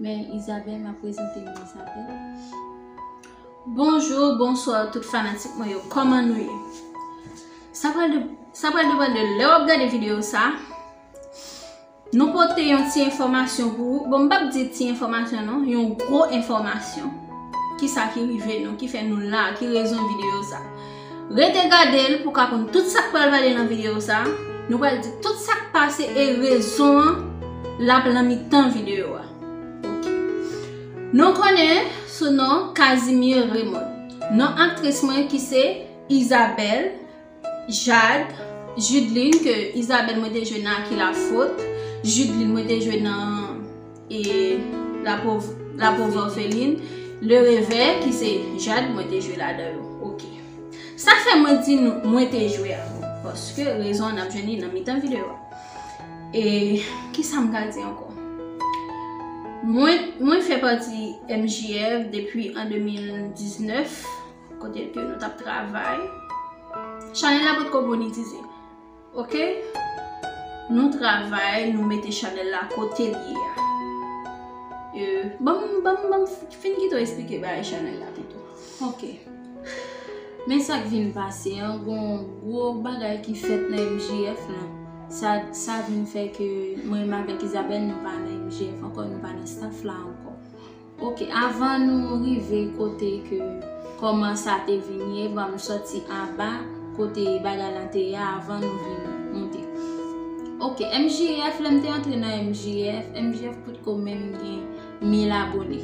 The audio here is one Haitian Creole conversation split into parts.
Mè Isabelle map prezante nou Isabelle. Bonjour bonsoir tout fanatik mwen yo koman nou ye sa pral de sa pral depan de lè wap gade video sa nou pote yon ti enfòmasyon pou ou bon m pap di ti enfòmasyon non yon gwo enfòmasyon kisa ki rive nou ki fè nou la ki rezon video sa. Rete gade l pou ka konn tout sak pral pale nan video sa, nou pral di tout sak pase e rezon an lap lan mitan video a ok. Nou konnen sou non Casimir Raymond, non aktris mwen ki se Isabelle Jade Judeline ke Isabelle mwen te jwe nan A qui la faute, Judeline mwen te jwe nan. E la pauvre orpheline, le revèy ki se Jade mwen te jwe ladan yo. Ok. Sak fè mwen di nou mwen te jwe a? Paske rezon an ap jwenn li nan mitan videyo a. E ki sa m ka di ankò? Mwen fè pati MJF depi an 2019, kote ke nou tap travay. Chanèl la potko monetize. Ok Nou travay nou mete chanel la kotel ye a euh, banm banm banm fin kite w esplike bagay chanel la pito ok men sak vin pase an gon gwo bagay ki fèt nan MJF lan sa sa vin fè ke mwen m avèk Isabelle nou pa nan MJF ankò nou pa nan staff la ankò. Ok avan nou rive kote ke koman sa te vini e banm soti anba kote bagay lan te ye avan nou vin moute ok MJF lèm te antre nan MJF MJF potko menm gen 1000 abone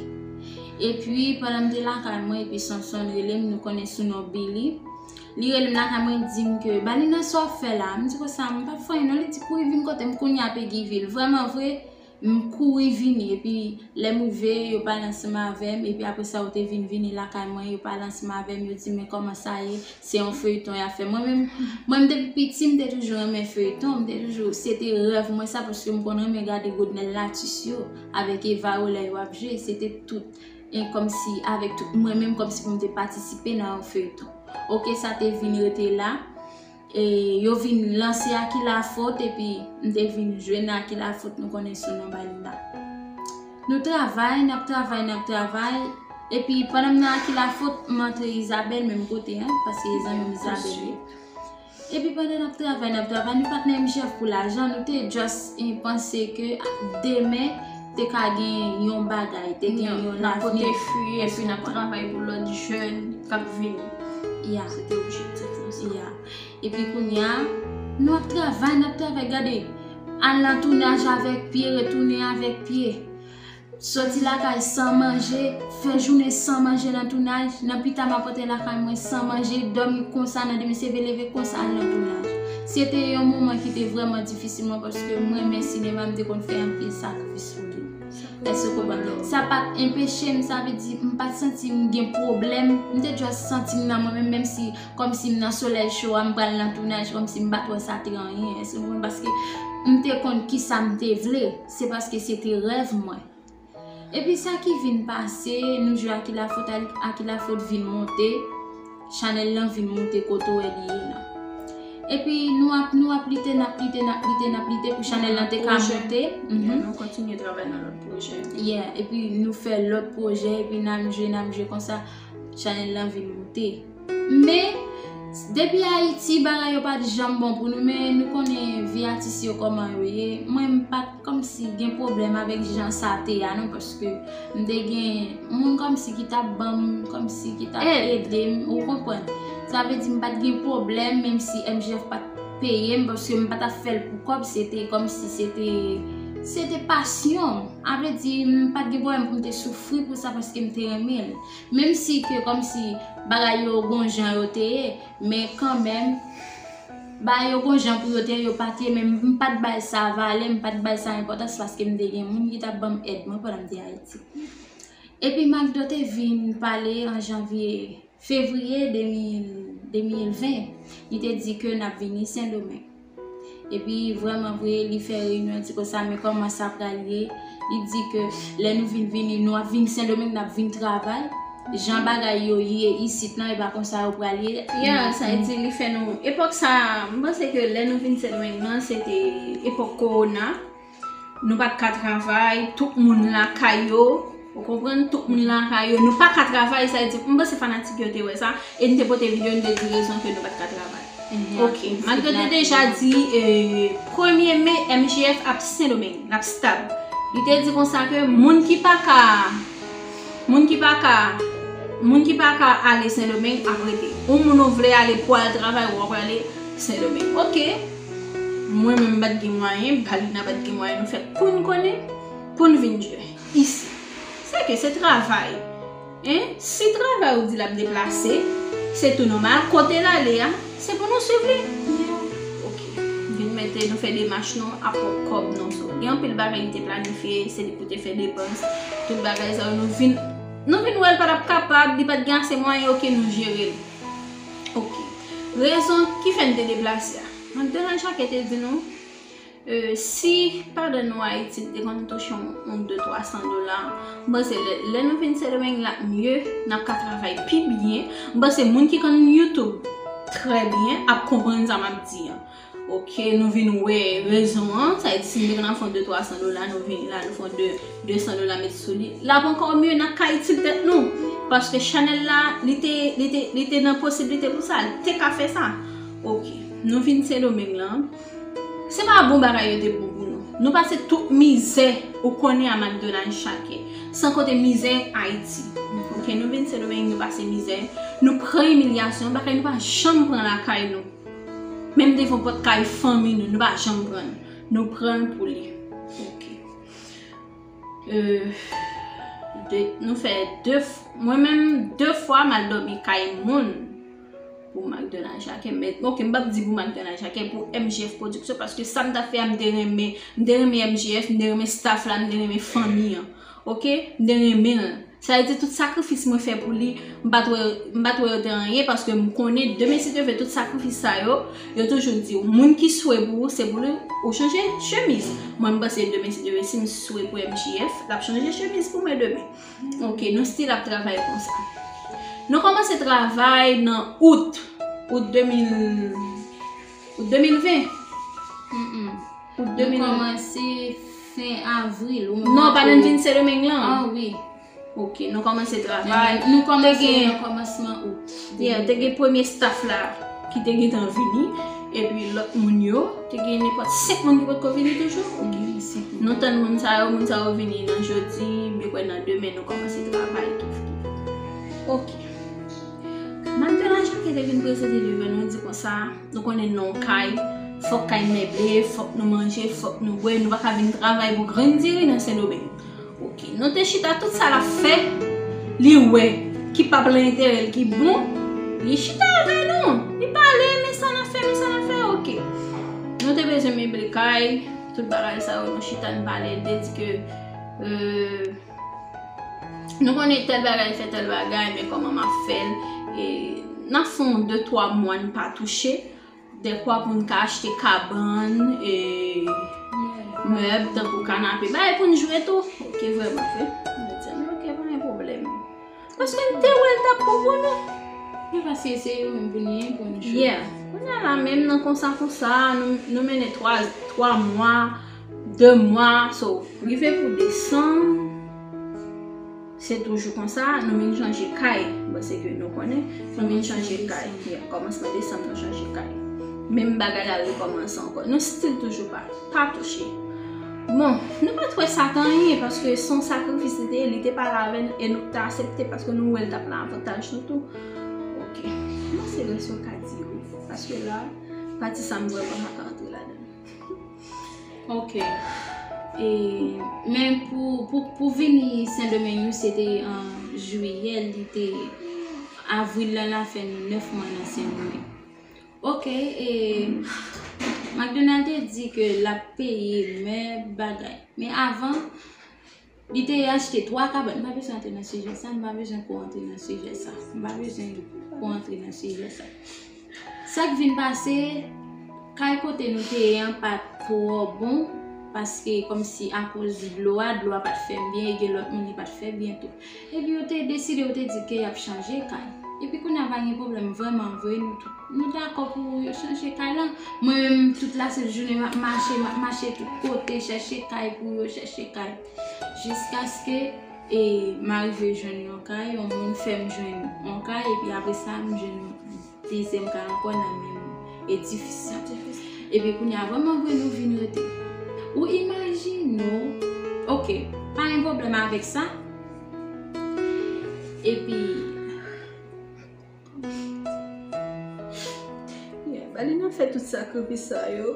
epi pandan m te lakay mwen epi Sonson relem nou konnen sou non Billy li relem lakay mwen li dim ke Balina sa wap fè la m di konsa m pap fè anyen non li di kouri vin kotem kounya Peguy vil vrèman vre M kouri vini, epi lè m rive, yo pale ansanm avè m, epi apre sa yo te vin vini lakay mwen, yo pale ansanm avè m, yo di mwen kòman sa ye, se yon feyton y ap fè. Mwen menm, mwen menm depi piti m te toujou renmen feyton, m te toujou, se te rèv mwen sa paske m konn renmen gade Godnel Latus yo avèk Eva yo lè yo ap jwe, se te tout, e kòmsi avèk tout mwen menm kòmsi pou m te patisipe nan yon feyton. Ok sa te vin rete la. E yo vin lanse Aki Lafot epi m te vin jwenn Aki Lafot nou konnen sou non ba li la. Nou travay, n ap travay, n ap travay, epi pandan m nan Aki Lafot, m antre Izabèl menm kote an, paske e zanmi Izabèl li. Epi pandan n ap travay, n ap travay, nou pa t nan objektif pou lajan, nou te just panse ke demen, Te ka gen yon bagay, te gen yon nan kote fwi e fwi nan travay pou lòt jèn kap vini. Ya. Se te objektif nou sa. Ya. E pi kounye a, nou ap travay, nap travay, gade, al nan tounaj avèk pye, retounen avèk pye. Soti lakay san manje, Fè jounen san manje nan tounaj, nan pita map antre lakay mwen san manje, dòmi konsa nan demen seve leve konsa al nan tounaj. Se te yon moman ki te vrèman difisil mwen paske m renmen sinema m te konn fè anpil sakrifis pou li. Èske w konprann? Sa pat enpeche m, sa vle di m pat santi m gen pwoblèm, m te just santi m nan mwen menm, menm si kòmsi m nan solèy cho a m pral nan tounaj kòmsi m pat wè sa te anyen, èske w konprann? Paske m te konn kisa m te vle, se paske se te rèv mwen. Epi sa ki vin pase, nou jwe a ki la fot al, a ki la fot vin monte, chanèl lan vin monte kote ou wè li ye la. Epi nou ap, nou ap lite, n ap lite, n ap lite, n ap lite pou chanèl lan te ka monte. Yeah, nou kontinye travay nan lòt pwojè. Yeah, epi nou fè lòt pwojè, epi n ap jwe, n ap jwe konsa, chanèl lan vin monte. Men, depi Ayiti bagay yo pat janm bon pou nou men nou konnen vi atis yo kòman yo ye. Mwen m pat kòmsi gen pwoblèm avèk jan sa te a non paske m te gen moun kòmsi ki t ap ban m kòmsi ki t ap ede m, ou konprann. Sa vle di m pat gen pwoblèm menmsi MJF pa t peye m paske m pa t ap fè l pou kòb se te kòmsi se te se te pasyon. A vle di m pat gen pwoblèm pou m te soufri pou sa paske m te renmen l. Menm si ke kòm si bagay yo gon jan yo te ye, men kanmenm, bagay yo gon jan pou yo te ye, yo pa te ye, men m pa t bay sa valè, m pa t bay sa enpòtans paske m te gen moun ki t ap ban m èd mwen pandan m te Ayiti. Epi McDo te vin pale an janvye, fevriye 2020, li te di ke n ap vini Sendomeng. Epi vrèman vre li fè reyinyon di konsa men kòman sa pral ye, li di ke lè nou vin vini nou ap vin sendomeng nap vin travay, jan bagay yo ye isit lan epa konsa yo pral ye, ya sa li di li fè nou epòk sa mpanse ke lè nou vin sendomeng lan se te epòk kowona. Nou pat ka travay, tout moun lakay yo, ou konprann, tout moun lakay yo, nou paka travay, sa vle di, m panse fanatik yo te wè sa, e n te pote video, n te di rezon ke nou pat ka travay. Ok, malgre te deja di, premye me, MJF ap Sendomeng, l ap stab. Li te di konsa ke moun ki pa ka, moun ki pa ka, moun ki pa ka ale Sendomeng ap rete. Ou moun ou vle ale pou al travay, ou ap ale Sendomeng. Ok. Mwen menm mpat gen mwayen, Paulina pat gen mwayen nou fè poun konnen, poun vin jwe isi. Sè ke se travay. Hein? Si travay ou di lap deplase, se tou nòmal, kote lale a, se pou nou swiv li. Ok. Vin mete nou fè demach nou a pwòp kòb nou. So, gen anpil bagay li te planifye, se li pou te fè depans, tout bagay sa yo nou vin nou vin wèl patap kapab, li pat gen ase mwayen, ok nou jerel. Ok. Rezon ki fè n te deplase a. Doktè Jacques te di nou, si padan nou Ayiti nou te konn touche yon 200-300 dola, m panse lè nou vin Sendomeng l ap mye, n ap ka travay pi byen. M panse moun ki konn YouTube trè byen ap konprann sa m ap di an. Ok nou vin wè rezon an sa et si nou te konn ap fon 2 300 dola nou vini la nou fon 2 200 dola met sou li lap ankò mye nan ka itil tèt nou paske chanèl la li te li te li te nan posiblite pou sa li te ka fè sa ok nou vin sendomeng lan se pa bon bagay yo te bon pou nou nou pase tout mizè ou konnen a makdonal chake san konte mizè ayiti ok nou vin sendomeng nou pase mizè nou pran imilyasyon bagay nou pa janm pran lakay nou. Menm devan pòt kay fanmi nou, nou pa janm pran l. Nou pran l pou li. Ok. Euh. Nou fè 2 fwa. Mwen menm 2 fwa m al dòmi kay moun pou Magdonna Jacquet. Men ok m pap di pou Magdonna Jacquet, pou MJF production paske sa m ta fè a m te renmen. M te renmen MJF, m te renmen staff la, m te renmen fanmi an. Ok mte renmen l. Sa vle di tout sakrifis mwen fè pou li m pat wè m pat wè yo te anyen paske m konnen de mesye te fè tout sakrifis sa yo yo toujou di w moun ki swe pou ou se pou li ou chanje chemiz mwen m panse de mesye te fè si m swe pou MJF l ap chanje chemiz pou mwen demen ok nou stil ap travay konsa nou kòmanse travay nan out out 2000 Pou 2020? Humm. Pou 2020. Li kòmanse fen avril. Non, pa nan Jin Sedomeng lan? An, ah wi. Ok, nou kòmanse travay. Nou kòmanse nan kòmansman out. Yeah, te gen premye staff la ki te gen tan vini. E pi lòt moun yo, te gen nenpòt 5 moun ki potko vini toujou? Ou gen 5 moun. Nou tann moun sa yo, moun sa yo vini nan jodi, mwen kwè nan demen nou kòmanse travay toujou. Ok. Malgre lajan ki te vin prese te rive nou di konsa, nou konnen nan yon kay, fòk kay meble, fòk nou manje, fòk nou bwè, nou pa ka vin travay pou grenn diri nan Sendomeng. Ok, nou te chita tout sa l ap fè, li wè, ki pa plan enterè l ki bon, li chita avè nou, li pale, men sa n ap fè, men sa n ap fè, ok. Nou te bezwen meble kay, tout bagay sa yo, nou chita, nou pale, li te di ke. Nou konnen tèl bagay fè tèl bagay men kòman m ap fè l e nan fon de twa mwa n pa touche dekwa pou n ka achte kabann e mèb tankou kanape bagay pou n jwe tou ok vrèman vre m di ok pa gen pwoblèm Paske m te wè l t ap konpone. Yo pa si eseye yo menm pou ni yen pou ni cho. Yeah. Kounya la menm nan konsa konsa, nou mennen 3, 3 mwa, 2 mwa, so. Rive pou desanm, se toujou konsa, nou vin chanje kay. Bon se ke nou konnen, nou vin chanje kay. Yeah, kòmansman desanm nou chanje kay. Menm bagay la rekòmanse ankò. Nou still toujou pa touche. Bon, nou pa t wè sa t anyen paske se yon sakrifis li te ye, li te pale avè n e nou t asepte paske nou wè l t ap nan avantaj nou tou. Ok. Kouman se rès yon kat di yo? Paske la, pati sa m vrèman pa ka antre ladan l. Ok. E, men pou, pou vini Sendomeng nou se te an jiyè li te, avril la la fè nou 9 mwa nan Sendomeng. Ok e McDonald te di ke lap peye men bagay. Men avan li te achte 3 kabann. M pa bezwen antre nan sijè sa, m pa bezwen pou w antre nan sijè sa. M pa bezwen pou w antre nan sijè sa. Sa k vin pase, kay kote nou te ye an pa t twò bon paske kòmsi akoz dlo a, dlo a pa t fè byen e gen lòt moun li pa t fè byen tou. Epi yo te deside yo te di ke yap chanje kay epi kounya pa gen problèm vrèman vre nou tout nou dakò pou yo chanje kay lan mwen menm tout la sèt jounen map mache map mache tout kote chèche kay pou yo chèche kay jiskaske e m arive jwenn yon kay yon moun fèm jwenn yon kay epi apresa m jwenn yon Teyze m ka ankò nan menm edifis sa tou epi kounya vrèman vre nou vin rete ou imajine w ok pa gen pwoblèm avèk sa epi yeah ba li nan fè tout sakrifis sa yo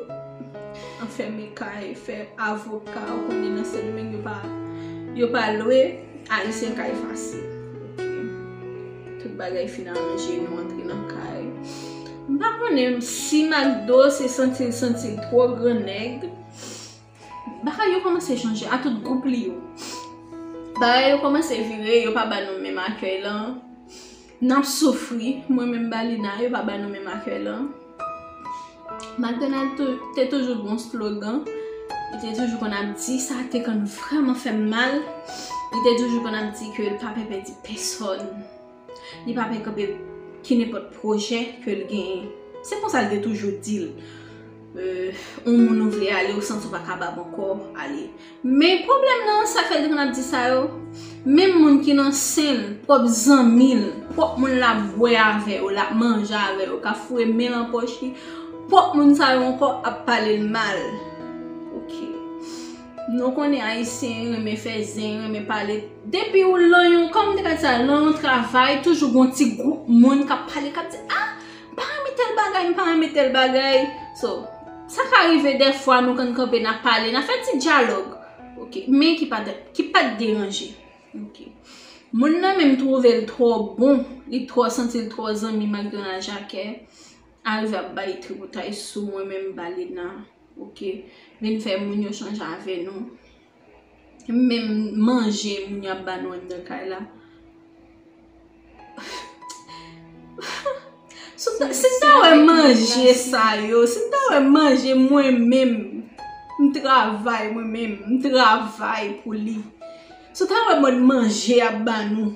anfème kay fè avoka ou konnen nan sendomeng yo pa lwe ayisyen kay fasil ok. Tout bagay fin aranje nou antre nan kay. M pa konnen si Makdo se santi l santi l twò gran nèg. Bagay yo kòmanse chanje a tout gwoup li yo. Bagay yo kòmanse vire, yo pa ba nou menm akèy lan. N ap soufri, mwen menm Balina, yo pa ba nou menm akèy lan. Matènèl te toujou bon slogan, li te toujou konn ap di sa te konn vreman fè m mal, li te toujou konn ap di ke l pa pe pe di pesòn, li pa pe kanpe ki nenpòt pwojè ke l genyen. Se konsa l te toujou di l, on moun ou vle ale, ou santi w pa kabab ankò, ale. Men pwoblèm nan sak fè li te konn ap di sa yo menm moun ki nan sen l pwòp zanmi l pwòp moun lap bwè avè yo lap manje avè yo kap foure men lan pòch li pwòp moun sa yo ankò ap pale l mal ok nou konnen ayisyen yo renmen fè zen yo renmen pale depi w lan yon kòm m te ka di sa lan yon travay toujou gon ti gwoup moun kap pale kap di ah M pa renmen tèl bagay, m pa renmen tèl bagay. So, sa ka rive dèfwa nou konn kanpe, n ap pale, n ap fè ti dyalòg. Ok, men ki pa t deranje. Ok. Moun nan menm twouve l twò bon, li twò santi l twò zanmi m ak Dona Jacque, arive ap bay tripotay sou mwen menm Balina. Ok. Vin fè moun yo chanje avè nou. Menm manje moun yo ap ba nou anndan kay la. Si m ta wè manje sa yo, si m ta wè manje mwen menm, m travay mwen menm, m travay pou li. Si w ta wè mòd manje y ap ba nou.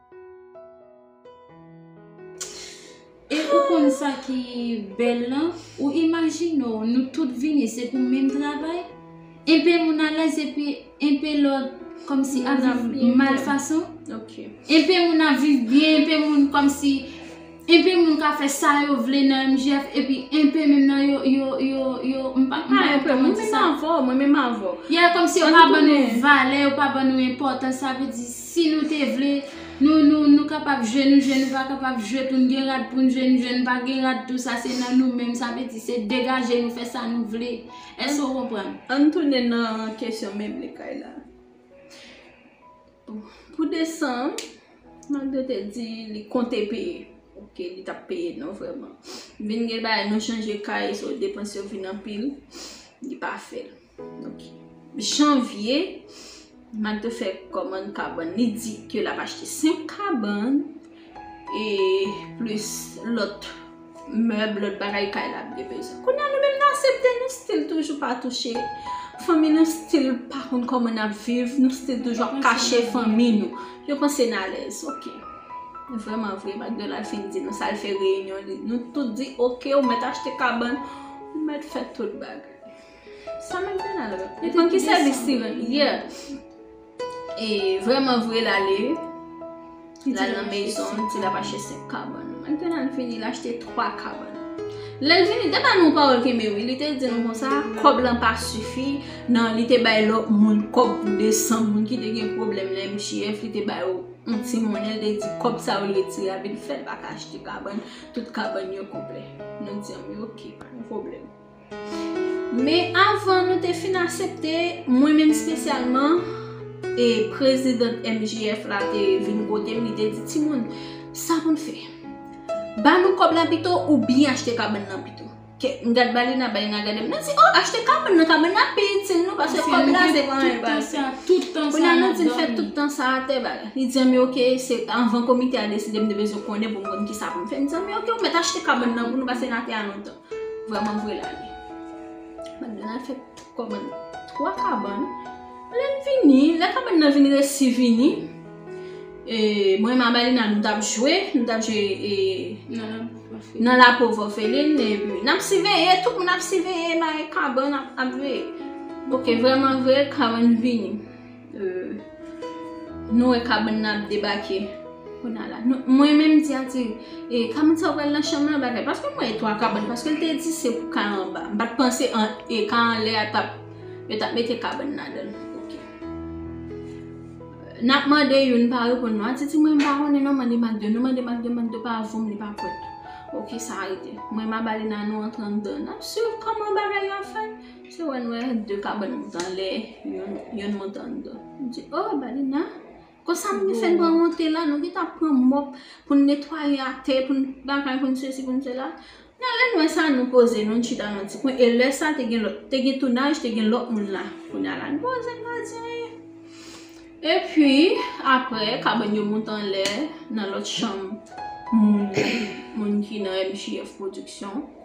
E ou konn sa ki bèl lan, ou imajine w nou tout vini se pou menm travay, enpe moun alèz epi enpe lòt kòmsi ap viv mal fason, enpe moun ap viv byen, enpe moun kòmsi. Enpe moun ka fè sa yo vle nan MJF epi enpe menm nan yo yo yo yo m pa ka enpe moun di sa. Mwen menm avè w, mwen menm avè w. Yeah kòm si yo pa ban nou valè, yo pa ban nou enpòtans sa vle di si nou te vle nou nou nou kapab jwe nou jwe nou pa kapab jwe tou n gen rad pou n jwe n jwe n pa gen rad tou sa se nan nou menm sa vle di se degaje nou fè sa nou vle èske w konprann? Ann tounen nan kesyon meble kay la. Pou desanm, malgre l te di li konte peye, ok, li t ap peye non vrèman. Vin gen bagay nou chanje kay, so depans yo vin anpil, li pa fè l. Ok. Janvye, malgre l te fè kòmann kabann, li di ke l ap achte 5 kabann. E plis lòt mèb, lòt bagay kay la ap gen bezwen. Kounye a nou menm nou asepte, nou stil toujou pa touche. Fanmi nou stil pa konn kòman n ap viv, nou stil toujou ap kache fanmi nou. Yo panse n alèz. Ok. Vreman vre, McDonald fin di nou sa l fè reyinyon li. Nou tout di ok, ou mèt achte kabann, ou mèt fè tout bagay. Sa McDonald rele? Li di m ki sèvis li rele? Yeah. E vreman vre l ale L al nan mezon l di l ap achte 5 kabann Anten al vini l achte 3 kabann Lè l vini depa nou pawòl kenbe wi li te di nou konsa kòb lan pa sifi nan li te bay lòt moun kòb pou desan moun ki te gen pwoblèm nan MJF li te ba yo yon ti monnen l te di kòb sa yo retire avè l fè l pa ka achte kabann tout kabann yo konplè Nou di anben ok pa gen pwoblèm. Men avan nou te fin asepte, mwen menm spesyalman, e prezidant MJF la te vin kote m li te di, timoun, sa pou n fè? Ba nou kòb la pito ou byen achte kabann nan pito? Ke m gad Balina, Balina gade m, nou di, oh achte kabann nan, kabann nan pi itil nou paske kòb la se pran e pran. Kounye a nou di l fè tout tan sa atè ba l. Li di, anben ok, se avan komite a deside m te bezwen konnen pou m konn kisa pou m fè. M di, anben ok, ou mèt achte kabann nan pou nou paske n atè a lontan. Vrèman vre la li. Madanm nan fè kòmann 3 kabann. Lè l vini, lè kabann nan vin resi vini, e mwen m Amalina nou t ap jwe, nou t ap jwe e nan la pov òfelin e pi n ap siveye, tout moun ap siveye nan kabann ap veye. Ok, vrèman vre kabann vini. Nou wè kabann nan ap debake. Mwen menm m di Ati, e kabann sa ou pral nan chanm lan bagay. Paske mwen wè 3 kabann, paske l te di se pou kay anba. M pat panse e kay anlè a tap, yo tap mete kabann ladan l. Ok. N ap mande youn pa reponn nou. Ati di mwen m pa konnen non mande Mak 2. Nou mande Mak 2, Mak 2 pa voum li pa kwèt. Ok sa rete. Mwen m aba li nan nou antre andan. N ap swiv kòman bagay yo ap fèt. Se wè n wè de kabann moute anlè, yonn moute anndan. M di, o, Balina, konsa moun fè n pran rantre la, nou gen tan pran mòp pou n netwaye atè, pou n bagay, pou n sesi, pou n sela. Nan lè n wè sa, nou poze nou, nou chita nan yon ti kwen. E lè sa, te gen lòt, te gen tounaj, te gen lòt moun la. Kounye a la, nou poze, nou pa di anyen. E pi, apre, kabann yo moute anlè, nan lòt chanm moun, moun ki nan MJF Production.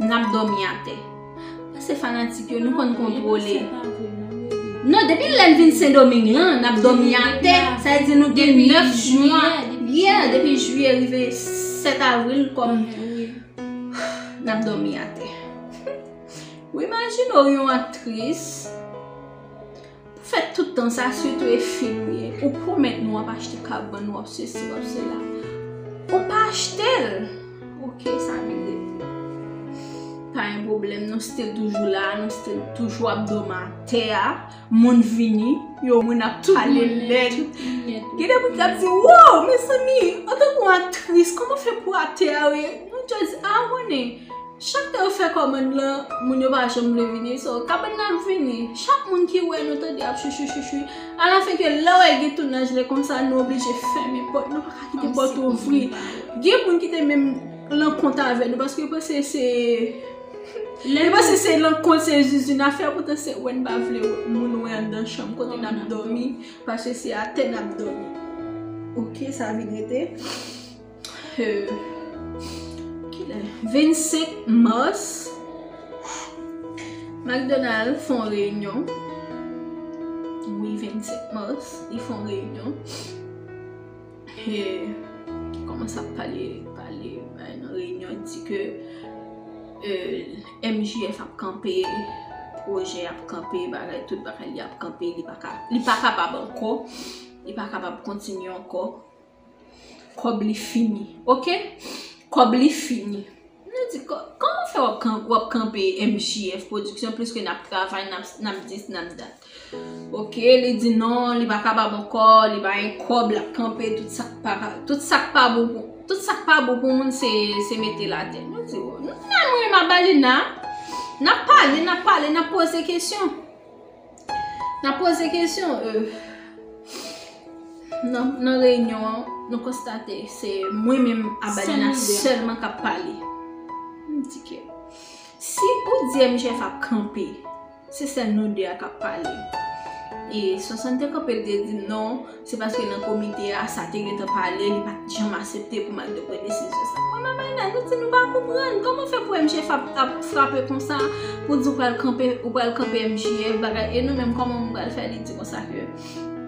Nap domi ate. Pase fanatik yo nou konn kontrole. Non depi lèn vin sendoming lan nap domi ate. Sa vle di nou gen 9 jwa. Yeah depi jye rive 7 avril kom. Nap domi ate. Ou imajine orion ap tris. Pou fè tout tan sa sitou e fi nou ye ou pwomèt nou wap achte kap ban nou wap sesi wap sela ou pa achtel ok sa vin rete pa yon pwoblèm nou stil toujou la nou stil toujou ap dòm a tè a moun vini yo moun ap pale lèd gen de moun kap di wouw mezanmi antanke yon aktris kòman fè pou a tè a nou just a wounen. Chak tan yo fè kòmand lan moun yo pa janm vle vini so kabann nan ap vini chak moun ki wè nou tande ap chouchou chouchou alafen ke lè wè gen tounaj lè konsa nou oblije fèmen pòt nou paka kite pòt ouvri gen moun kite menm lan kont avè nou paske yo panse se yo panse se lan kont se zuzu nan fè poutan se wè nou pa vle moun wè anndan chanm kote nan ap dòmi paske se atè nan ap dòmi ok sa vin rete. 25 mars, McDonald fon reyinyon. Wi, 25 mars, li fon reyinyon. E, koman sa pale, pale, bay nan reyinyon, di ke MJF ap kanpe, pwojè ap kanpe, bagay tout, bagay li ap kanpe, li pa kapab anko, li pa kapab kontinye anko. Kob li fini ok. Kob li fini. Nou di koman fe wap kanpe MJF production pliske nap travay nap dis nap dat. Ok li di non li paka ba m anko li pa gen kob lap kanpe tout sa k pa tout sa k pa bon pou tout sa k pa bon pou moun se mete l ate. Nou di w nan mwen m a bali nan. Nap pale nap pale nap poze kesyon. Nan poze kesyon nan reyinyon an, nou konstate se mwen menm Adelina selman k ap pale. M di ke si ou di MJF ap kanpe, se sèl nou 2 a k ap pale. E 62 kanpe l te di non. Se paske nan komite a, sa te gentan pale, li pa t janm asepte pou m al depre desizyon sa. Mwen ak Ayna, nou di nou pa konprann. Kòman fè pou MJF ap frape konsa, pou di ou pral kanpe, ou pral kanpe MJF, bagay, e nou menm kòman nou pral fè? Li di konsa ke,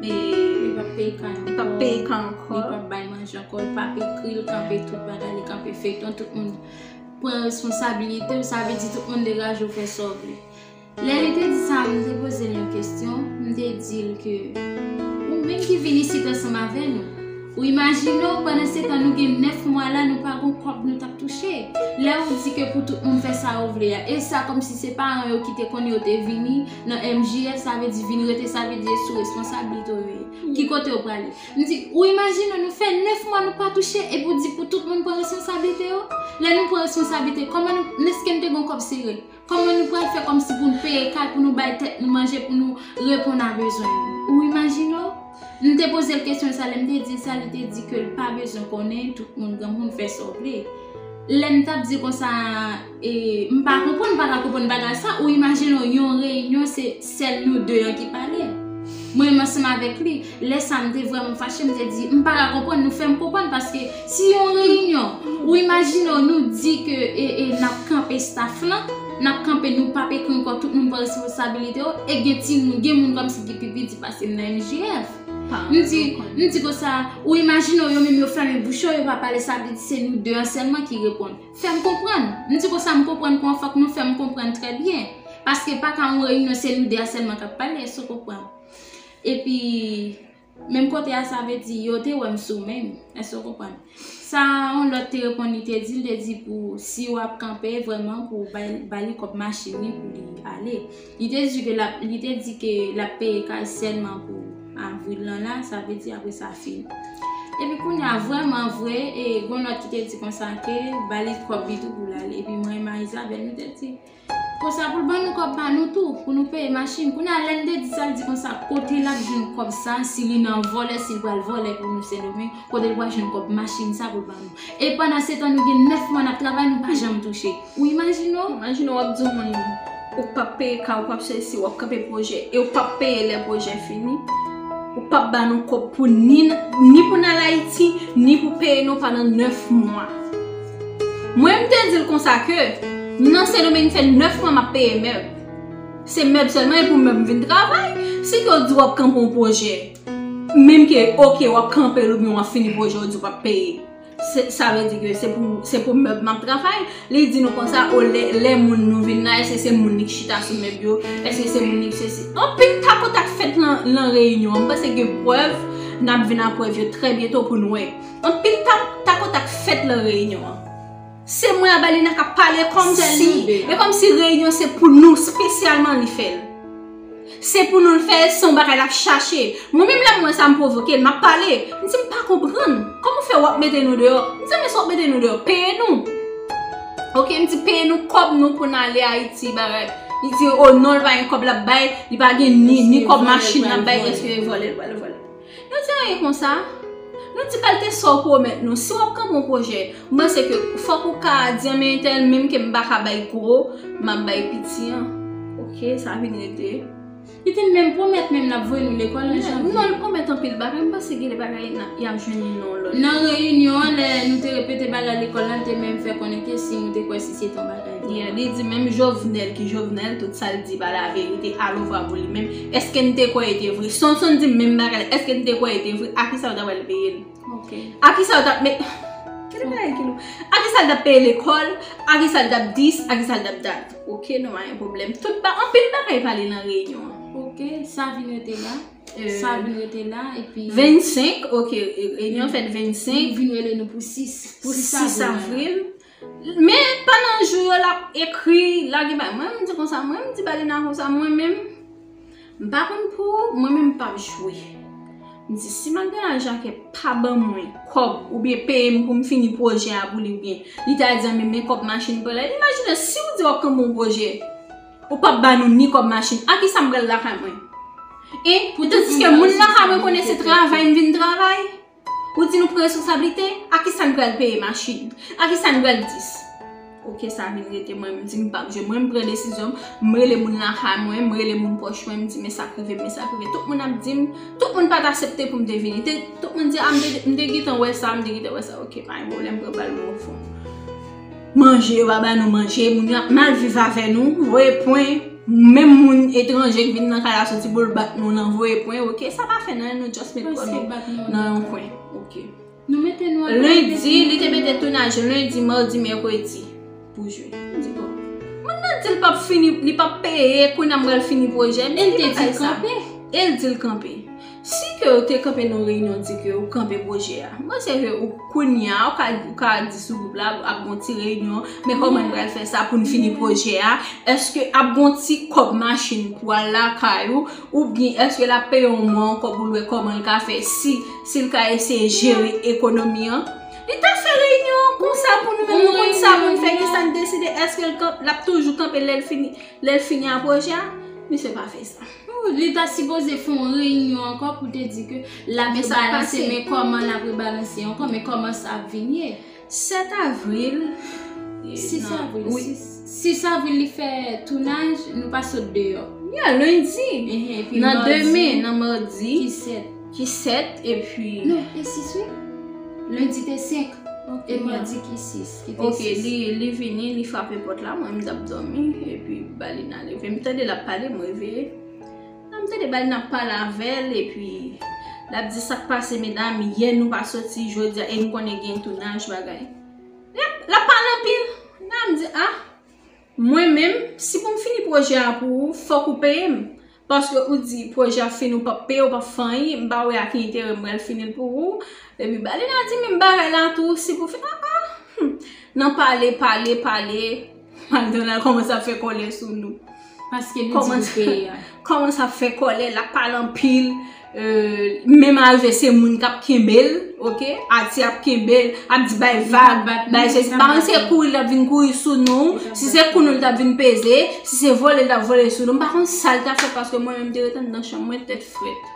e, li pa p peye ka ankò, li pa p peye ka ankò, li pa p bay manje ankò, li pa p ekri l, kanpe tout bagay, li kanpe feyton, tout moun pran responsabilite l, sa vle di tout moun degaje l fè sa w vle. Lè li te di sa, m te poze l yon kesyon, m te di l ke, Ou menm ki vin isit ansanm avè nou, ou imajine w pandansetan nou gen nèf mwa la nou pa gon kòb nou t ap touche? Lè ou di ke pou tout moun fè sa yo vle a, e sa kòmsi se paran yo ki te konnen yo te vini nan MJF, sa vle di vin rete sa vle di e sou responsablite w yo ye, ki kote yo prale? M di, Ou imajine w nou fè nèf mwa nou pa touche epi ou di pou tout moun pran responsablite yo? Lè nou pran responsablite, kòman nou, men ske n te gon kòb sere? Kòman nou pral fè kòmsi pou n peye kay, pou nou bay tèt nou manje, pou nou reponn a bezwen nou? Ou imajine w? M te poze l kesyon sa, lè m te di l sa, li te di ke l pa bezwen konnen, tout moun granmoun, fè sa w vle. Lè m t ap di konsa, e, m pa konprann, m pa ka konprann bagay sa, ou imajine w yon reyinyon se. Sèl nou de an ki pale. Mwen menm ansanm avèk li, lè sa m te vrèman fache, m te di, m pa ka konprann, nou fè m konprann paske si yon reyinyon, ou imajine w nou di ke e n ap kanpe staf lan, n ap kanpe nou p ap ekri ankò tout moun pran responsabilite yo e gen timoun, gen moun kòmsi ki pi piti pase m nan MJF. M di, m di konsa, ou imajine w yo menm yo fèmen bouch yo, yo pa pale sa vle di se nou de an sèlman ki reponn. Fèm konprann, m di konsa m konprann kon fòk nou fèm konprann trè byen, paske pa ka yon reyinyon se nou 2 a sèlman kap pale sou konprann. Epi menm kote a sa vle di yo te wèm sou menm, èske w konprann. Sa yon lòt te reponn li te di, li te di pou si wap kanpe vrèman pou bali kòb machin li pou li ale. Li te di ke lap li te di ke lap peye kay sèlman pou avril lan la, sa vle di apre sa fini. Epi kounye a vrèman vre e gon lòt ki te di konsa ke ba li kòb li tou pou l ale. Epi mwen e Marie Isabelle nou te di konsa pou l ban nou kòb pa nou tou pou nou peye machin. Kounye a lè n te di sa l di konsa kote lap jwenn kòb sa si li nan vòlè si l pral vòlè pou nou Sendomeng kote l pral jwenn kòb machin sa pou l ban nou. E pandansetan nou gen 9 mwa nap travay nou pa janm touche. Ou imajine w, imajine w ap di yon moun ou pap peye kay, ou pap fè si, ou ap kanpe pwojè e ou pap peye lè pwojè fini. Ou pap ba nou kòb pou ni ni pou n al Ayiti, ni pou peye nou pandan 9 mwa. Mwen m te di l konsa ke m nan Sendomeng fè 9 mwa m ap peye mèb. Se mèb sèlman e pou mèb m vin travay. Si ke w di w ap kanpe yon pwojè, menm ke ok w ap kanpe l oubyen w ap fini pwojè w di w pap peye. Sa vle di ke se pou se pou mèb map travay li di nou konsa o lè lè moun nou vin la eske se moun li ki chita sou mèb yo eske se moun li ki sesi anpil takout ak fèt lan lan reyinyon an m panse gen prèv nap vin ak prèv yo trè byento pou nou wè anpil takout ak fèt lan reyinyon an. Se mwen Abalina kap pale komsi e komsi reyinyon se pou nou spesyalman li fè l. Se pou nou l fè l se yon bagay lap chache. Mwen menm lèm wè sa m pwovoke l map pale. M di m pa konprann. Koman w fè wap mete nou deyò? M di men si wap mete nou deyò peye nou. Ok m di peye nou kòb nou pou n ale Ayiti bagay. Li di oh non li pa gen kòb lap bay, li pa gen ni kòb machin lap bay eske vòlè l pral vòlè. Nou di anyen konsa? Nou di kalte sa w pwomèt nou? Si w ap kanpe yon pwojè, m panse ke fòk ou ka di anmen entèl menm ke m pa ka bay gwo, m ap bay piti an. Ok, sa vin rete. Li te menm pwomèt menm l ap voye nou lekòl an janvye. Non, li pwomèt anpil bagay. M panse gen de bagay y ap jwenn yon non lòt. Nan reyinyon an, lè nou te repete bagay lekòl la, l te menm fè konnen ke si nou te kwè si se te yon bagay nòmal. Li di menm Jovenel ki Jovenel, tout sa l di pa laverite, alovra pou li menm. Eske n te kwè e te vre? Sonson di m menm bagay la. Eske n te kwè e te vre? A ki sa yo ta pral peye l? Ok. A ki sa yo ta ap met. Ki lè bagay ki lou? A ki sa l ta ap peye lekòl? A ki sa l ta ap dis? A ki sa l ta ap dat? Ok, nou pa gen pwoblèm. Tout ba, anpil bagay pale nan reyinyon an. Ok, sa vin rete la. Ee. Sa vin rete la, epi. 25, ok, reyinyon fèt 25. Yo vin rele nou pou 6. Pou 6 avril. Men pandan jou yo lap ekri lage bagay mwen menm di konsa mwen menm di balena konsa mwen menm m pa konn pou ou mwen menm m pap jwe m di si Magdala Jacquet pa ban mwen kòb oubyen peye m pou m fini pwojè a pou li oubyen li ta di an men men kòb machin pou lè imajine si ou di wap kenbe yon pwojè ou pap ba nou ni kòb machin a kisa m pral lakay mwen e pou tandis ke moun lakay mwen konnen se travay m vin travay. Ou di nou pran responsablite, a ki sa n pral peye machin? A ki sa n pral dis? Ok sa vin rete mwen m di m pap jwe mwen m pran desizyon m, m rele moun lakay mwen, m rele moun pwòch mwen m di men sa k rive m men sa k rive tout moun ap di m, tout moun pat asepte pou m te vini tout moun di a m te gentan wè sa m te gentan wè sa ok pa gen pwoblèm m pran bal m refon. Manje, yo pa ba nou manje, moun yo ap mal viv avè nou, voye pwen, menm moun etranje k vin nan kay la soti pou l bat nou nan voye pwen ok, sa pa fè nan yen nou just met kò nou nan yon kwen ok. Lendi, li te mete tounaj lendi, mardi, mercredi pou jwe. M di bon, moun nan di l pa p fini, li pa p peye, kounye a m pral fini pwojè m, e l te di kanpe, e l di l kanpe. Si ke ou te kanpe nan yon reyinyon di ke ou kanpe pwojè a. M panse ke ou kounya ou ka ou ka di sou gwoup la ap gon ti reyinyon, men kòman n pral fè sa pou n fini pwojè a, èske ap gon ti kòb machin pou al lakay ou, oubyen èske l ap peye w mwa ankò pou l wè kòman l ka fè si si l ka eseye jere ekonomi an. Li ta fè reyinyon an konsa pou nou menm nou konn sa pou n fè ki sa n deside èske l kan l ap toujou kanpe lè l fini lè l fini a pwojè a. Misye pa fè sa. Li ta sipoze fon reyinyon ankò pou te di ke l ap rebalanse men kòman l ap rebalanse ankò men kòman sa ap vin ye. 7 avril, 6 avril, 6. 6 avril li fè tounaj, nou pa sot deyò. Ya lendi, nan demen, nan mardi. Ki 7. Ki 7 epi. Non, te 6 wi. Lendi te 5 e mardi ki 6. Ok li vini li frape pot la mwen m tap domi epi balina leve m tande lap pale m reveye la m tande balina ap pale avèl epi lap di sak pase medam yè nou pa soti jodia e m konnen gen tounaj bagay lap pale anpil la m di a mwen menm si pou m fini pwojè a pou ou fòk ou peye m Paske ou di projè ap fini ou pap peye ou pap fanyi m pa wè a ki enterè m pral fini l pou ou epi Balina di menm bagay la tou si pou fè aa humm nan pale pale pale McDonald kòmanse ap fè kòlè sou nou paske li di pou peye a kòmanse ap fè kòlè lap pale anpil. Menm alve se moun kap kenbel ok ati ap kenbel ap di bay vag bay se pa an se kouri lap vin kouri sou nou si se kou nou lap vin peze si se vole lap vole sou nou pa kon sal ta fè paske mwen menm te retan nan chan mwen tèt frèt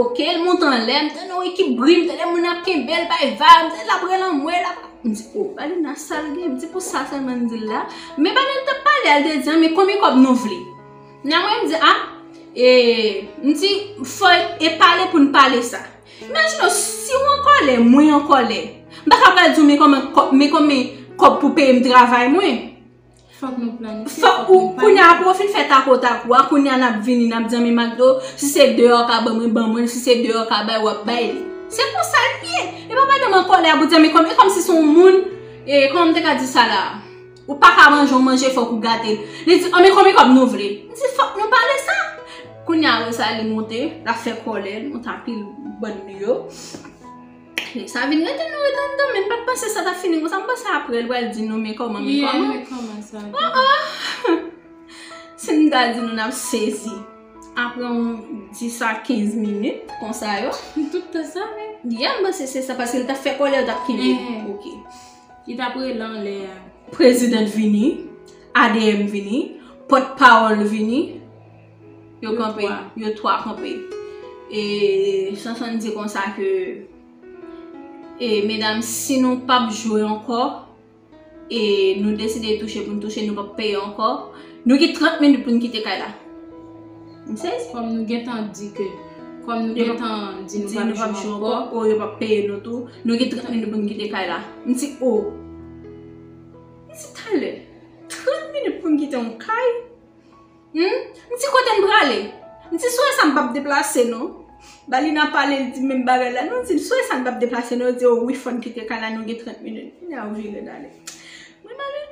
ok l mou tan lè m tan nou ekip bri m tan lè moun ap kenbel bay vag m tan lap re lan mwen lap m di o ba li nan sal gen m di pou sa sa nan di la men ba li l tap pale al de di an men konbyen kòb nou vle. Nan mwen m di a e m di fò e pale pou n pale sa. Imajine w si w an kòlè mwen an kòlè m pa ka pral di w men kòman men konbyen kòb pou peye m travay mwen. Fòk nou planifye. Fòk ou kounye a apre w fin fè takotakou a kounye a n ap vini n ap di an men McDo si se deyò w ka ban mwen ban mwen l si se deyò w ka bay w ap bay li. Se konsa l ye. E pa pandan m an kòlè a pou w di an men kòman e kòmsi se yon moun e kòman m te ka di sa la. Ou pa ka manje yon manje fòk ou gate l. Li di, an men konbyen kòb nou vle? M di, fòk nou pale sa. Kounye a Rosalie monte, l ap fè kòlè l kont anpil bann li yo. Nèg sa vin rete nan rete anndan men m pa t panse sa t ap fini konsa. M panse aprè l pral di nou men kòman men kòman. O o! Si m ta di nou n ap sezi. Aprè yon 10 a 15 minit konsa yo. Tout tan sa menm? Yè m panse se sa paske l t ap fè kòlè yo t ap kenbe l. Ok. Li tap rele anlè a. President vini, ADM vini, pot pawol vini, yo kanpe, yo 3 kanpe. E Chanson di konsa ke e medam si nou pap jwe anko, e nou deside touche pou nou touche nou pap peye anko, nou gen 30 minit pou nou kite kay la. M sezi kom nou gentan di ke Kom nou gentan di nou pap jwe anko Ou yo pap peye nou tou Nou gen 30 minit pou nou kite kay la M di ou M di talè 30 minit pou m kite yon kay M di kote m prale M di sou e sa m pap deplase non Balina pale li di menm bagay la M di sou e sa m pap deplase non Yo di ou wi fòn kite kay la nou gen 30 minit Kounye a ou vire dale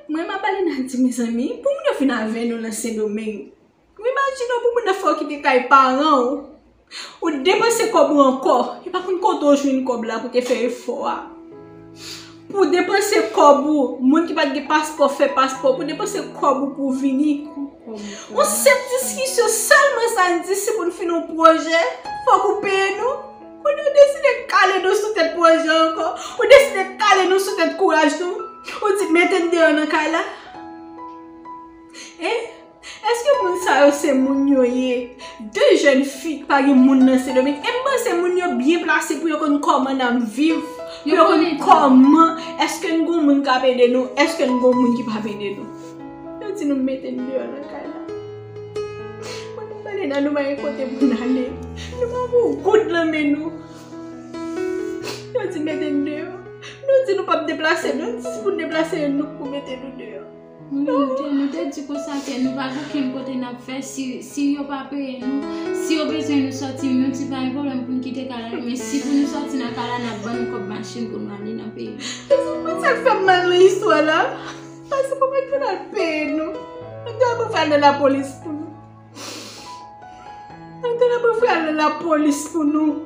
Mwen a Balina di mezanmi Pou moun yo fin avè nou nan sendomeng Ou imajine w pou moun nan fè w kite kay paran w, ou t depanse kòb ou ankò, e pa konn kote w jwenn kòb la pou te fè efò a. Pou w depanse kòb ou, moun ki pat gen paspò fè paspò, pou w depanse kòb ou pou w vini. Yon senp diskisyon sèlman sa n di si pou n fini yon pwojè, fòk ou peye nou. Kounye ou deside kale nou sou tèt pwojè an ankò, ou deside kale nou sou tèt kouraj nou, ou di mete n deyò nan kay la. E? Eske moun sa yo se moun yo ye? De jèn fi ki pa gen moun nan Sendomeng. E m panse moun yo byen plase pou yo konn kòman n ap viv. Pou yo konn kòman. Eske n gen moun k ap ede nou? Eske n gen moun ki pa p ede nou? Yo di nou mete n deyò nan kay la. Mwen m pale nan nou pa gen kote pou n ale. Nou pa gen yon goud nan men nou. Yo di mete n deyò. Nou di nou pa p deplase nou. Si pou n deplase nou, nou pou mete nou deyò. Nou te di konsa ke nou pa gen okenn kote n ap fè si yo pa peye nou. Si yo bezwen nou sòti, nou di pa gen pwoblèm pou nou kite kay la, men si pou nou sòti nan kay la, n ap ban nou kòb machin pou nou ale nan peyi nou. E se pa sa k fè m mal nan istwa la? Pase pou mèt pou n al peye nou. Mwen ta dwe pral nan lapolis pou nou. Mwen ta dwe pral nan lapolis pou nou.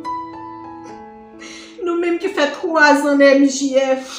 Nou menm ki fè twazan nan MJF.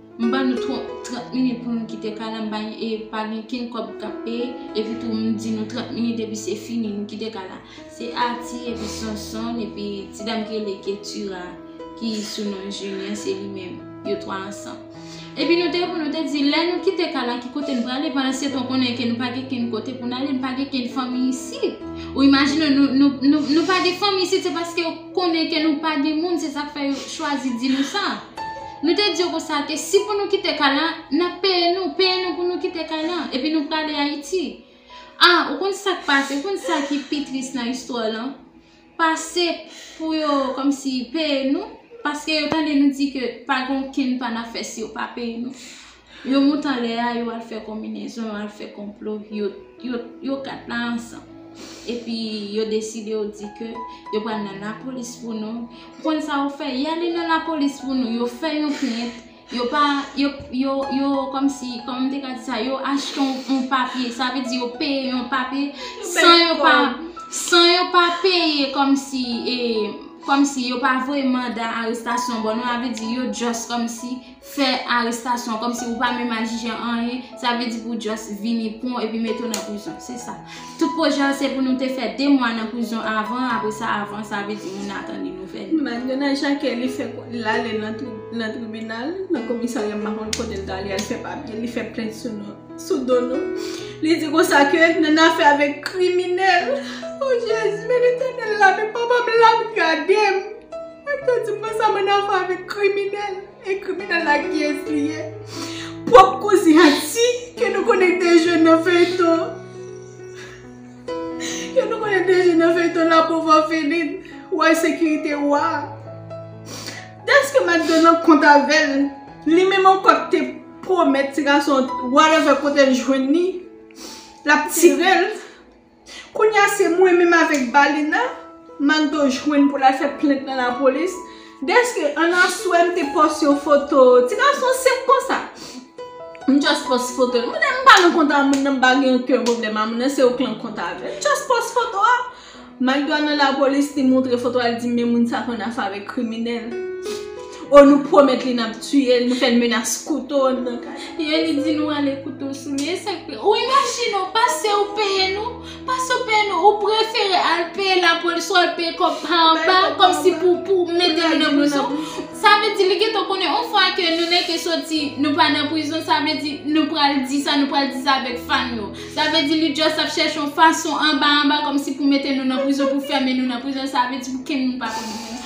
M ban nou 30 minit pou nou kite kay la m pa gen e pa gen ken kob kap peye epi tou m di nou 30 minit epi se fini nou kite kay la se Arti epi Sonson epi ti dam ki rele Ketura ki sou non Julien se li menm yo 3 ansanm epi nou te pou nou te di lè nou kite kay la ki kote nou prale pandan se tan w konnen ke nou pa gen ken kote pou n ale nou pa gen ken fanmi isit ou imajine w nou nou pa gen fanmi isit se paske yo konnen ke nou pa gen moun se sak fè yo chwazi di nou sa. Nou te di yo konsa ke si pou nou kite kay la, n ap peye nou, peye nou pou nou kite kay la, epi nou prale Ayiti. A, ou konn sa k pase, ou konn sa ki pi tris nan istwa lan? Pase pou yo kòmsi peye nou, paske yo tande nou di ke pa gen okenn pa n ap fè si yo pa peye nou. Yo mount anlè a yo al fè konbinezon, yo al fè konplo, yo 4 la ansanm. Epi yo deside yo di ke yo pral nan lapolis pou nou. Ou konn sa yo fè? Y ale nan lapolis pou nou, yo fè yon plent, yo pa, yo kòm si, kòman m te ka di sa, yo achte yon papye, sa vle di yo peye yon papye, san yo pa, san yo pa peye kòm si, e, kòm si yo pa voye manda arestasyon ban nou, sa vle di yo just kòm si, fè arestasyon kòm si ou pa menm al jije anyen sa vle di pou just vini pran w epi mete w nan prizon se sa tout pwojè an se pou nou te fè 2 mwa nan prizon avan apre sa avan sa vle di moun atann yon nouvèl. Mariana Jacquet li fè l ale nan tribinal nan komisarya m pa konn kote l t ale al fè papye li fè plent sou do nou li di konsa ke nan nafè avèk kriminèl oh jezi men letènèl la men papa m la ap gade m. Mwen te di mwen sa mwen avwa avèk kriminèl e kriminèl la kiyès li ye? Pwòp kouzin Ati ke nou konnen te jwe nan feyton ke nou konnen te jwe nan feyton la pauvre orpheline wòy sekirite wa dèske m ap nan kont avè l li menm ankò k te pwomèt ti gason whatever kote l jwenn li l ap tire l. Kounya se mwen menm avèk Balina Magdo jwenn pou l al fè plent nan lapolis dèske an aswè m te pòs yon foto ti gason senp konsa. M just pòs foto l. M di m pa nan kont a moun nan m pa gen oken pwoblèm a moun nan se ou k nan kont avè l. M just pòs foto a. Magdo al nan lapolis li montre foto a li di men moun sa konn afè avèk kriminèl. Oh nou promet li nap tiyel nou fel menas kouto andan kay la. Ye li di nou ale kouto sou li esak vre ou imajine ou pase ou peye nou pase ou peye nou ou prefere al peye lapolis ou al peye kob pa anba komsi pou pou mete nou nan prizon sa vle di li gentan konnen on fwa ke nou neke soti nou pa nan prizon sa vle di nou pral di sa nou pral di sa avek fan nou sa vle di li just ap chèche on fason anba anba komsi pou mete nou nan prizon pou fèmen nou nan prizon sa vle di pou kenn moun pa konn nou.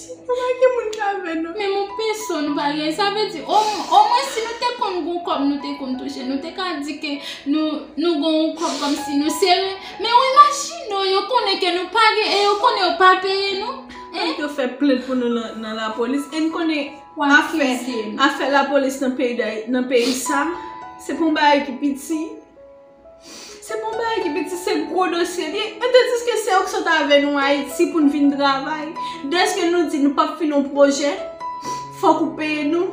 Kouman gen moun ki avè nou? Menm yon peso nou pa gen. Sa vle di, o mwen si nou te konn gon kòb nou te konn touche, nou te ka di ke nou gon yon kòb kòm si nou sere. Men yon machino, yo konnen ke nou pa gen, e yo konnen yo pa peye nou. An nou te fè plent pou nou nan la polis, e nou konnen a fè la polis nan peyi sa, se pou yon bagay ki piti. Se pa yon bagay ki piti, se gwo dosye li. E te di ke se yo ki sot avè nou Ayiti pou n vin travay. Dèske nou di nou pap fini yon pwojè, fòk ou peye nou.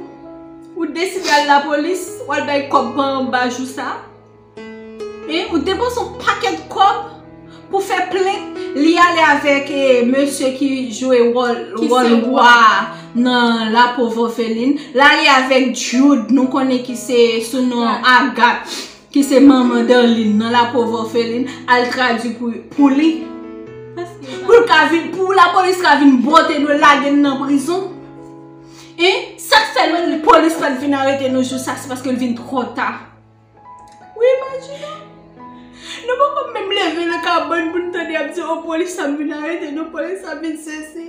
Ou deside al lapolis, ou al bay kòb pa anba jou sa. E ou depanse yon pakèt kòb pou fè plent. Li ale avèk e mesye ki jwe wòl roi nan la pauvre orpheline. Li ale avèk Jude, nou konnen ki se sou non Agathe. ki se manman Darline nan la pauvre orpheline al tradwi pou li pou l ka vin pou la polis ka vin bwote nou lage nou nan prizon hein sak fè la polis pat vin arete nou jou sa se paske l vin tro ta wi imajine nou poko menm leve nan kabann pou nou tande y ap di oh polis ap vin arete nou polis ap vin sesi.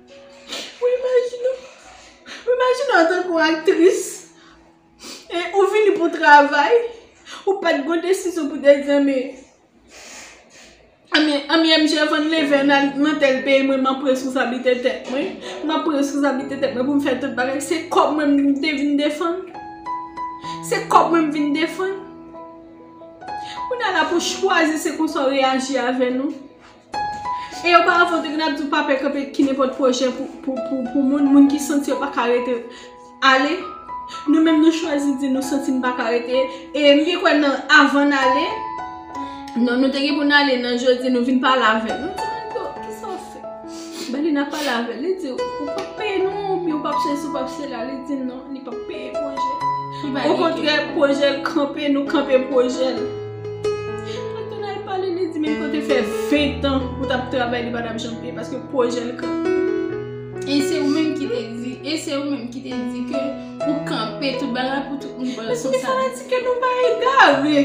Mwen imajine w, mwen imajine w antanke yon aktris, e ou vini pou travay, ou pat gon desizyon pou tèt di anmye, anmye, anmye MJ avan n leve ann al nan tèl peyi mwen map pran reskonsablite tèt mwen, map pran reskonsablite tèt mwen pou m fè tout bagay, se kòb mwen m te vin defann, se kòb mwen m vin defann. Kounye a la pou chwazi se konsa w reyaji avè nou. E oparafan te gen ap di w pa pè kanpe ki nenpòt pwojè pou moun, moun ki santi yo pa ka rete ale. Nou menm nou chwazi di nou santi n pa ka rete. E m vin kwè nan avan n ale, nan nou te gen pou n ale nan jodi nou vin pale avè l. Nou di m anto kisa w fè? Ben li nan pale avè l. Li di w ou pap peye nou oubyen ou pap sesi ou pap sela. Li di non li pap peye pwojè. Okontrè pwojè l kanpe nou kanpe pwojè l. Anton al pale li di menm ke w te fè 20 ans ou tap travay li patap janm peye paske pwojè l kanpe. E se ou menm ki te di, e se ou menm ki te di ke ou kanpe tout bagay pou tout moun pran responsabilite. Mezanmi fanatik yo nou pa egare,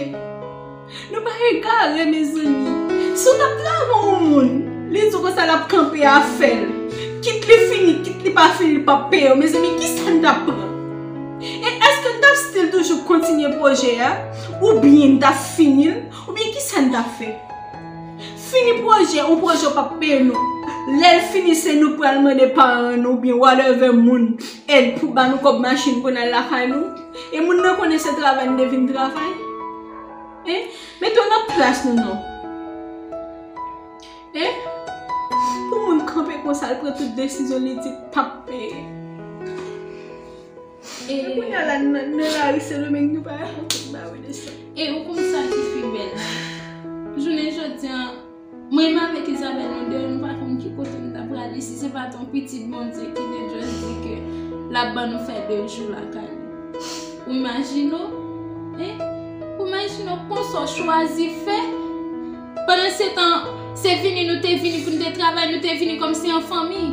nou pa egare mezanmi. Si w tap travay yon moun, li di w konsa lap kanpe afè l. Kit li fini, kit li pa fini li pap peye w. Mezanmi kisa n tap pran? E eske n tap still toujou kontinye pwojè a? Ou byen n tap fini l, ou byen kisa n tap fè? Fini pwojè, yon pwojè yo pap peye nou. Lè l fini se nou k pral mande paran nou oubyen whatever moun èd pou ba nou kòb machin pou n al lakay nou. E moun nan konnen se travay n te vin travay? Hein? Mete w nan plas nou non. Hein? Pou moun kanpe konsa l pran tout desizyon li di pap peye. E pou kounya la nan lari sendomeng nou pa yon kote ba we de sa. E ou konn sa ki pi bèl la. Jounen jodi an mwen menm avèk Isabelle nou de nou pa konn ki kote nou ta prale si se pat yon pitit Bondye ki te just di ke lap ban nou fè 2 jou lakay li. Ou imajine w? Hein? Ou imajine w konsa w chwazi fè? Pandansetan, se vini nou te vini pou nou te travay, nou te vini kòm si an fanmi.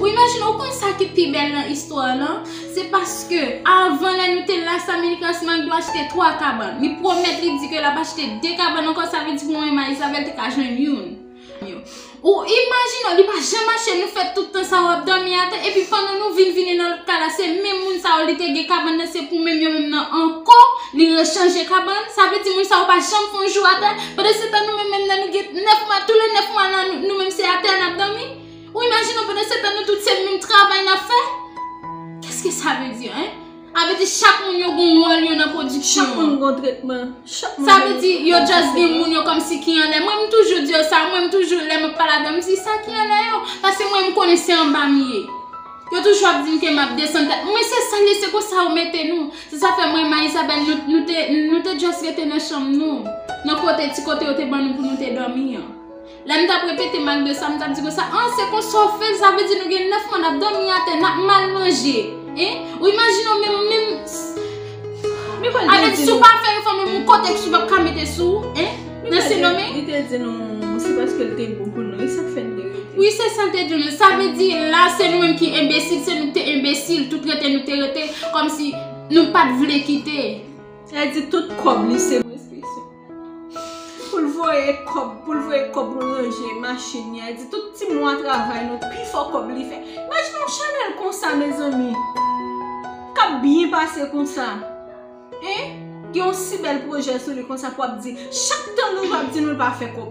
Ou imajine, ou konn sa ki pi bèl nan istwa a lan? Se paske, avan lè nou te la sa Minicas Manglo achte 3 kabann. Li pwomèt li di ke l ap achte 2 kabann ankò, sa vle di pou mwen e Maisabel te ka jwenn youn. Ou imajine w li pa janm mache nou fè tout tan sa yo ap dòmi atè epi pandan nou vin vini nan lòt ka la se menm moun sa yo li te gen kabann nan se pou menm yo menm nan ankò li rechanje kabann sa vle di moun sa yo pa janm fè yon jou atè pandan se tan nou menm menm nan nou gen 9 mwa tou le 9 mwa la nou menm se atè n ap dòmi ou imajine w pandan se tan nou tout se menm travay n ap fè kèske sa vle di hein. A vle di chak moun yo gon wòl yo nan pwodiksyon an. Chak moun gon tretman. Chak moun gen yon tretman. Sa vle di yo just gen moun yo kòmsi ki anlè. Mwen m toujou di yo sa. Mwen m toujou lè m ap pale avè yo m di sa ki anlè yo. Pase mwen m konnen se anba m ye. Yo toujou ap di m ke m ap desann tèt mwen. Men se sa l ye se konsa yo mete nou. Se sa fè mwen e ma Isabelle nou te nou te just rete nan chanm nou. Nan kote ti kote yo te ban nou pou nou te dòmi an. Lè m t ap repete mal de sa, m t ap di konsa, an, se konsa w fè l, sa vle di nou gen 9 mwa n ap dòmi atè, n ap mal manje. Hein? Ou imajine w menm, menm. Men kòl te di nou. Avèk si w pa fè efò menm yon kotèks yo p ap ka mete sou ou, hein? Nan se non men. Li te di nou, se paske l te gwo pou nou, e sa k fè n te rete. Wi, se sa l te di nou. Sa vle di la, se nou menm ki enbesil, se nou k te enbesil, tout rete nou te rete, kòmsi nou pa t vle kite. Sa vle di tout kòb li se. Pou l voye kòb, pou l voye kòb pou l ranje machin li a. Li di tout ti mwa travay nou pi fò kòb li fè. Imajine yon chanèl konsa mezanmi. K ap byen pase konsa. Hein! Gen yon si bèl pwojè sou li konsa pou ap di chak tan nou jwe ap di nou l pa fè kòb.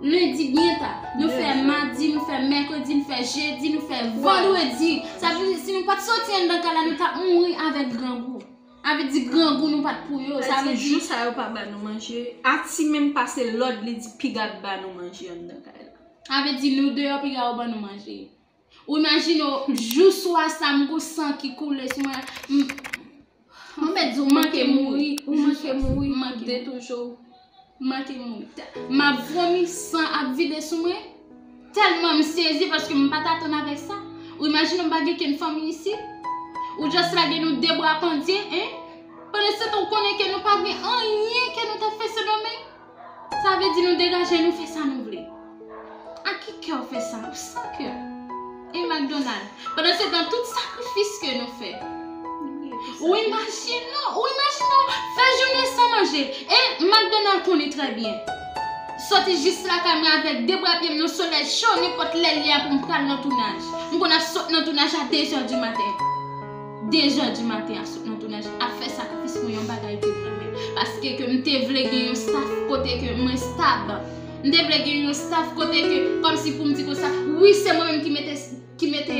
Lendi byen ta, nou fè madi, nou fè mèkredi, nou fè jedi, nou fè vandredi. Sa vle di si nou pat soti anndan kay la nou tap mouri avèk grangou. A vle di grangou nou pat pou yo. Sa vle di jou sa yo pa ba nou manje, Ati menm pase lòd li di piga ban nou manje anndan kay la. A vle di nou deyò piga yo ban nou manje. Ou imajine w jou swa sa m gou san ki koule sou mwen. Mwen mèt di w manke mouri. Ou manke mouri. Mank de toujou. Manke mouri. M ap vomi san ap vide sou mwen. Tèlman m sezi paske m pa t atann avèk sa. Ou imajine w m pa gen kenn fanmi isi. Ou just lage nou de bwa pandye. Pandan se tan ou konnen ke nou pa gen anyen ke nou ta fè Sendomeng. Sa vle di nou degaje nou fè sa nou vle. Ak ki kè ou fè sa? Ou san kè. E McDonald? Pandan se tan tout sakrifis ke nou fè. Ou imajine ou, ou imajine ou fè jounen san manje. E McDonald konnen trè byen. Soti jis lakay mwen avèk de bra pye m nan solèy cho nenpòt lè li a pou m pral nan tounaj. M konn ap sot nan tounaj a dezè di maten. 2 jè di maten ap sot nan tounaj ap fè sakrifis pou yon bagay ke m renmen paske ke m te vle gen yon staff kote ke mwen stab m te vle gen yon staff kote ke kòm si pou m di konsa wi se mwen menm ki mete ki mete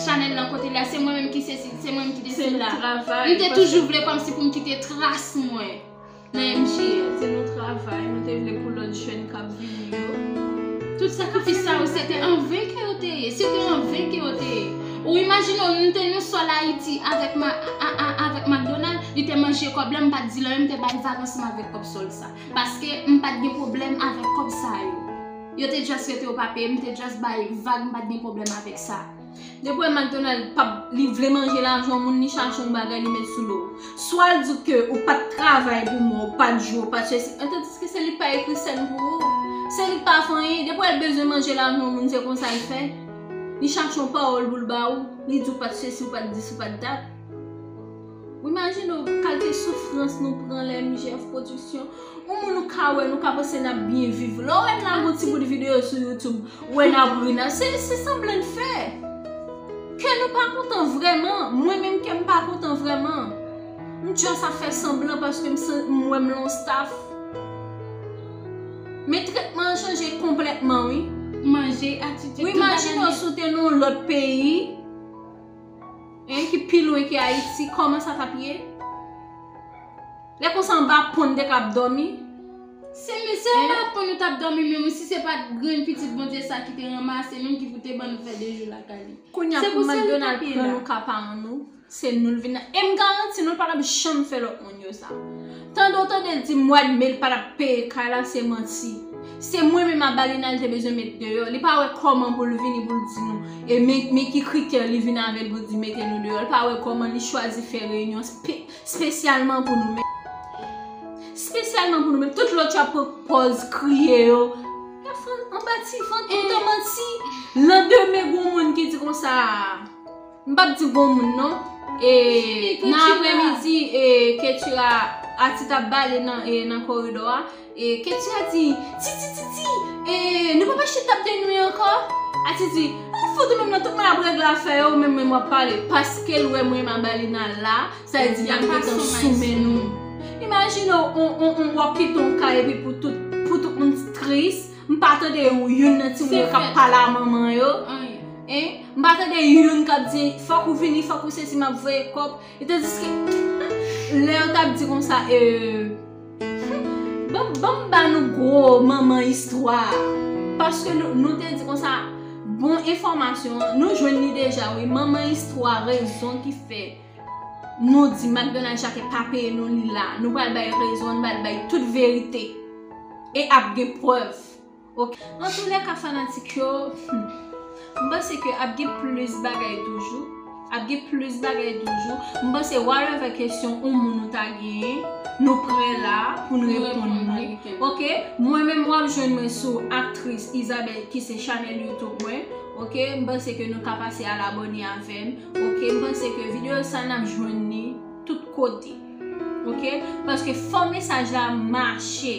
chanèl lan kote li a se mwen menm ki sesi se mwen menm ki desi m te toujou vle kòm si pou m kite tras mwen. Nan MJ a, se nou travay, nou te vle pou lòt jèn k ap vini yo. Tout sakrifis sa yo, se te an ven ke yo te ye, se te an ven ke yo te ye. Ou imajine w, m te nan sòl Ayiti avèk ma, a, a, avèk Makdonal, li te manje kòb la, m pa t di l anyen, m te bay vag ansanm avèk kòb sòl sa. Paske, m pa t gen pwoblèm avèk kòb sa yo. Yo te just rete yo pa peye, m te just bay vag, m pa t gen pwoblèm avèk sa. Depi w wè McDonald pap li vle manje lajan moun li chache yon bagay li met sou do w. Swa l di w ke ou pat travay pou mwa ou pat jwe ou pat chèsi an tandiske se li k pa ekri sèn pou ou. Se li k pa fè anyen depi w wè l bezwen manje lajan moun se konsa l fè. Li chache yon pawòl pou l ba ou li di w pat sesi ou pat dis ou pat dat. Ou imajine w kalte soufrans nou pran lè MJF production Yon moun ou ka wè nou ka panse n ap byen viv Lè w wè n lage yon ti bout videyo sou youtube Ou wè n ap ri n ap se sanblan n fè Kè nou pa kontan vrèman Mwen menm kè m pa kontan vrèman M just ap fè sanblan paske m san m wè m lan yon staff Men tretman an chanje konplètman wi Ou imajine w si w te nan yon lòt peyi Hein ki pi lwen ki ayiti koman sa tap ye Lè konsa anba pon nou te ka ap domi Se men se anba pon nou tap domi menm wi si se pat grenn pitit Bondye sa ki te ranmase menm ki pou te ban nou fè 2 jou lakay li Kounya pou McDonald pran nou ka pa an nou se nou l vin nan em garanti nou l patap janm fè lòt moun yo sa Tande w tande l di mwad me l pa tap peye kay la se manti. Se mwen menm Abalina l te bezwen met deyò. Li pa wè kòman pou l vini pou l di nou e men ki kritè li vin avè l pou l di mete nou deyò. Li pa wè kòman li chwazi fè reyinyon spesyalman pou nou menm. Spesyalman pou nou menm. Tout lòt yo ap pran pòz kriye yo. Yo fè anba ti vant yo te manti. Lan demen gon moun ki di konsa. M pap di bon moun non. E nan apre midi e Ketura Ati tap bale nan koridò a e Ketura di Titi Titi e nou pap achte tab de nwi ankò? Ati di Ou fou tou menm nan tout moun ap regle afè yo ou menm menm wap pale paske l wè mwen Mabalina la sa vle di lap gentan sou men nou. Imajine w wap kite yon kay epi pou tout moun tris. M pa tande yon youn nan ti moun yo kap pale a manman yo. M pa tande yon youn kap di fòk ou vini, fòk ou sesi map voye kòb. E tandiske lè yo tap di konsa e Humm banm ba nou gwo manman istwa a. Paske nou te di konsa bon enfòmasyon an nou jwenn li deja wi manman istwa rezon ki fè. Nou di McDonald Jacques pa peye nou li la. Nou pral bay rezon, nou pral bay tout verite. E ap gen prèv. An tou lè ka fanatik yo, m panse ke ap gen plis bagay toujou. Ap gen plis bagay toujou. M panse whatever kesyon ou moun nou ta genyen, nou prè la pou nou reponn nou. Ok, mwen menm w ap jwenn mwen sou Actrice Isabelle ki se chanèl YouTube mwen. Ok, m panse ke nou ka pase al abòne avè m. Ok m panse ke video sa nap jwenn li tout kote ok paske fò mesaj la mache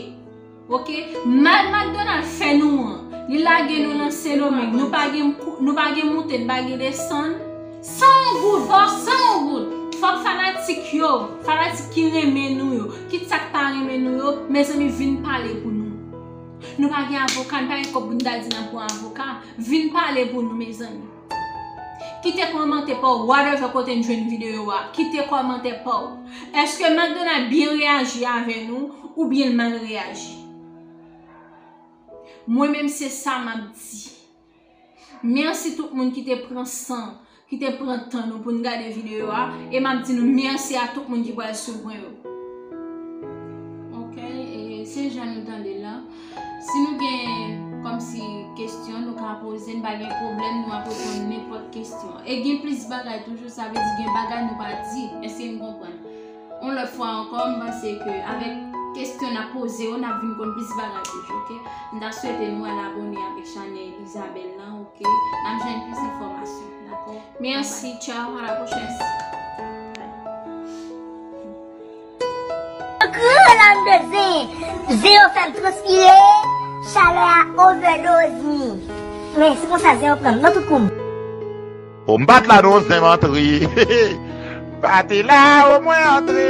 ok mal McDonald fè nou an li lage nou nan sendomeng nou pa gen nou pa gen moute nou pa gen desann san yon goud fò san yon goud fò fanatik yo fanatik ki renmen nou yo kit sa k pa renmen nou yo mezanmi vin pale pou nou nou pa gen avoka nou pa gen kòb pou nou ta di nap pran avoka vin pale pou nou mezanmi. Kite kòmantè paw whatever kote n jwenn video a kite kòmantè paw eske McDonald byen reyaji avè nou oubyen l mal reyaji mwen menm se sa map di merci tout moun ki te pran san ki te pran tan nou pou n gade video a e map di nou merci a tout moun ki pral swiv mwen yo ok e se jan nou tande l lan. Si nou gen kòmsi kestyon nou ka poze n pa gen pwoblèm nou ap reponn nenpòt kestyon. E gen plis bagay toujou sa vle di gen bagay nou pa di. Èske n konprann? Yon lòt fwa ankò m panse ke avèk kestyon n ap poze yo n ap vin konn plis bagay toujou ok. M ta swete nou al abone avèk chanèl Isabelle lan ok. N ap jwenn plis enfòmasyon dakò. Mèsi tchao a la pwochèn. Gro lam de zen. Zen yo fem transpire. Chalè a overdose mi. Men se konsa zen yo pranm nan tout koum. Oh m pat la non zen m antre Pa te la oh mwen antre.